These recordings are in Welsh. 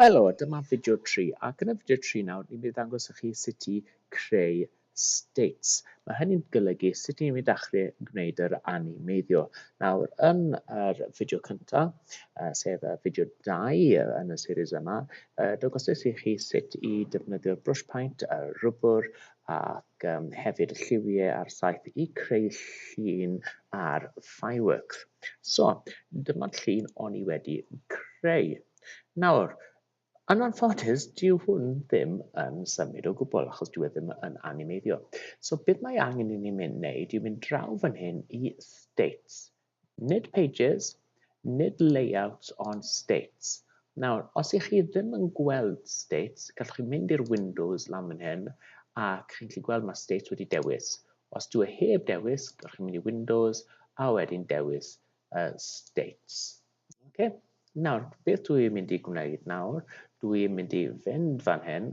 Helo, dyma fideo tri, ac yn y fideo tri nawr ni'n mynd i ddangos i chi sut i creu states. Mae hynny'n golygu sut ni'n mynd achri yn gwneud yr animeiddio. Nawr, yn yr fideo cyntaf, uh, sef y fideo 2 yn y series yma, uh, dangosais i chi sut i defnyddio'r brush paint, y rwbr, a ac yym hefyd y lliwie a'r saeth i creu llun ar Fireworks. So, dyma'r llun o'n i wedi creu. Nawr, yn anffodus, dyw hwn ddim yn symud o gwbl achos dyw e ddim yn animeiddio. So, beth mae angen i ni mynd wneud yw mynd draw fan hyn i States, Nid pages, nid layouts ond states. Nawr, os ych chi ddim yn gweld states, gallwch chi mynd i'r windows lan fan hyn ac chi'n gallu gweld mae states wedi dewis. Os dyw e heb dewis, gallwch chi mynd i windows a wedyn dewis uh, states. Okay? Nawr, beth dwi i'n mynd i gwneud nawr? Dwi i'n mynd i fynd fan hyn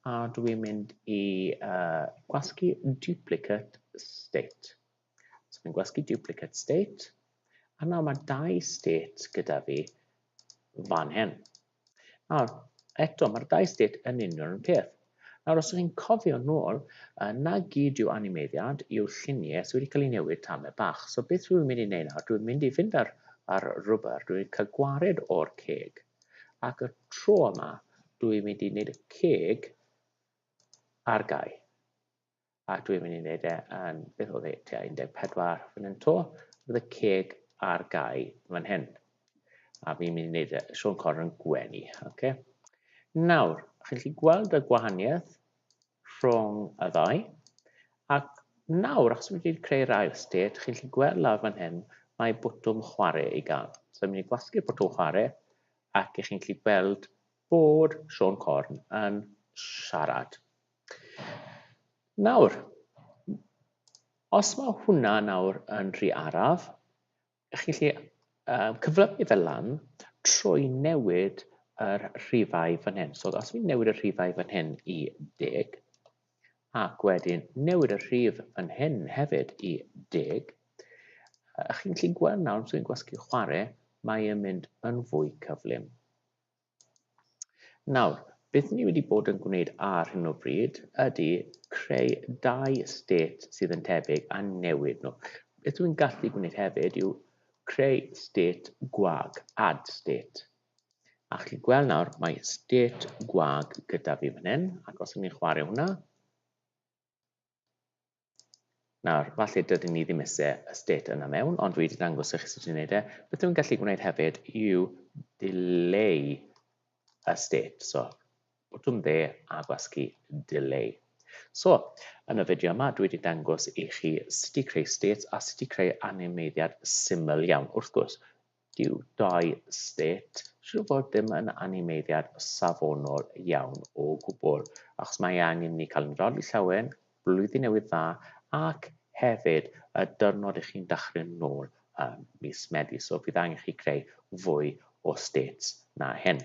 a dwi i'n mynd i uh, gwasgu duplicate state. So fi'n gwasgu duplicate state, a nawr mae dau state gyda fi fan hyn. Nawr, eto, mae'r dau state yn union yn peth. Nawr, os ydych cofio nôl, uh, na gyd yw animeiddiad yw lluniau sydd wedi cael ei newid tamau bach. So beth rwy'n mynd i wneud nawr, dwi'n mynd i fynd ar, ar rwber, dwi'n cael gwared o'r ceg. Ac y tro yma, dwi'n mynd i wneud y ceg ar gau. a dwi'n mynd i wneud e yn, beth oedd e, tua 14 fan hyn to, bydd y ceg ar gau fan hyn. A fi'n mynd i wneud e, Sean Connor yn gwenu. Okay. Nawr, chi'n chi gweld y gwahaniaeth rhwng y ddau, ac nawr, achos wedi creu'r ail state, chi'n chi gweld lawr fan hyn, mae bwtwm chwarae i gael. So, fi'n mynd i gwasgu'r bwtwm chwarae, ac chi'n chi gweld bod Sean Corn yn siarad. Nawr, os mae hwnna nawr yn rhy araf, chi'n lle uh, cyflymu fe lan trwy newid yr rhifau fan hyn. So os fi'n newid y rhifau fan hyn i 10, ac wedyn newid y rhif fan hyn hefyd i 10, uh, chi'n lle gweld nawr, os fi'n gwasgu chwarae, mae'n mynd yn fwy cyflym. Nawr, beth ni wedi bod yn gwneud ar hyn o bryd ydy creu dau state sydd yn tebyg a newid nhw. Beth dwi'n gallu gwneud hefyd yw creu state gwag, add state. A chi'n gweld nawr, mae state gwag gyda fi fan hyn, ac os ydyn ni'n chwarae hwnna, Nawr, falle dydyn ni ddim eisiau y state yna mewn, ond dwi wedi dangos i chi sut i wneud e. Beth dwi'n gallu gwneud hefyd yw delay y state. So, botwm dde a gwasgu delay. So, yn y fideo yma, dwi wedi dangos i chi sut i creu states a sut i creu animeiddiad syml iawn. Wrth gwrs, Dyw dau state siŵr o fod ddim yn animeiddiad safonol iawn o gwbl, achos mae angen i ni cael ein rhoddi llawen, Blwyddyn Newydd Dda, ac hefyd y dyrnod i chi'n dachrin nôl ym mis Medi, so bydd angen i chi creu fwy o states na hyn.